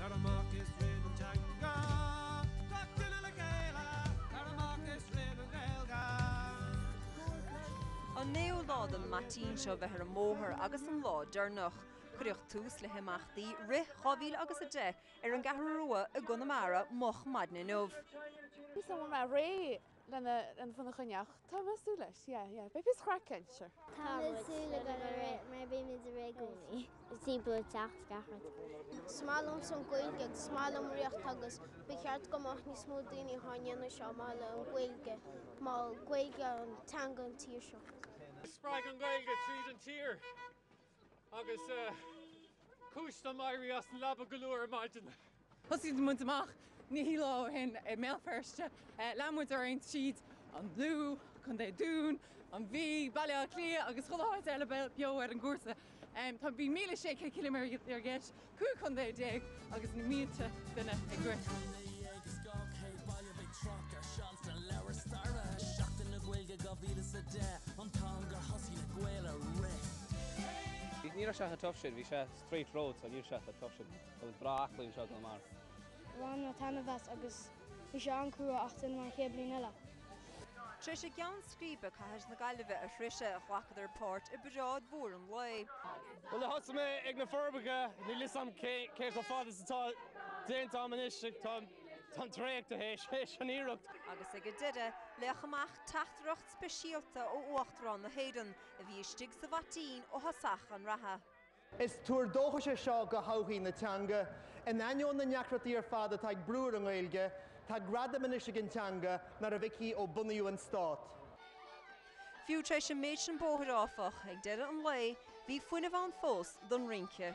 Tar amach is roinn an teanga. Gach duine le chéile. Tar amach is roinn an Ghaeilge. An naoú lá don bhaitín seo bheith ar an mbóthar agus an lá deirneach. Cuireadh tús le himeachtaí Rith 2010 ar an gCeathrú Rua i gConamara moch maidin inniu. Bhí mé ag rith. lena lena bhun a choinneáil. Tá mé ag súil leis yeah yeah beidh píosa craic ann sure. Tá mé ag súil le go mór é mar bímid ag rith i gcónaí. Timpeall an teach is gach rud. Is maith liomsa an Ghaeilge agus is maith liom rith agus ba cheart go mbeadh níos mó daoine ag déanamh seo mar mhaithe le an Ghaeilge mar Gaeilge an teanga an tír seo. Spreag an Ghaeilge tríd an tír. Agus cúis dom éirí as an leaba go luath ar maidin. Thosaigh muid amach naoi lá ó shin i mBéal Feirste. Lean muid orainn tríd an Lú, Contae an Dúin, an Mhí, Baile Átha Cliath agus chuile áit eile beo ar an gcúrsa. Bhí míle sé céad ciliméadar i gceist 15 contae agus na mílte duine i gceist. Ní raibh sé chomh tough sin, bhí sé straight road so níl sé chomh tough sin. Bhí sé breá aclaí anseo i gConamara. Bhain mé taitneamh as agus Bhí sé an-chrua ach déanfaidh mé an chéad bhliain eile. Tar éis a gceann scríbe cathair na Gaillimhe a shroicheadh, ghlacadar páirt i bparáid mhór an lae. Bhuel, thosaigh mé ag Na Forbacha, níl fhios a'm cé chomh fada is atá déanta a'm anois, tá mé traochta théis an iarracht. Agus ag a deireadh, léadh amach teachtaireacht speisialta ó Uachtarán na hÉireann, a bhí istigh sa bhaitín ó thosach an reatha. Is tuar dóchais é seo do thodhchaí na teanga. In ainneoin na ndeacrachtaí ar fad atá ag brú ar an nGaeilge, tá gradam anois ag an teanga nach raibh aici ó bunaíodh an stát. Fiú tar éis an méid sin bóthair, áfach, ag deireadh an lae, bhí fuinneamh ann fós don rince.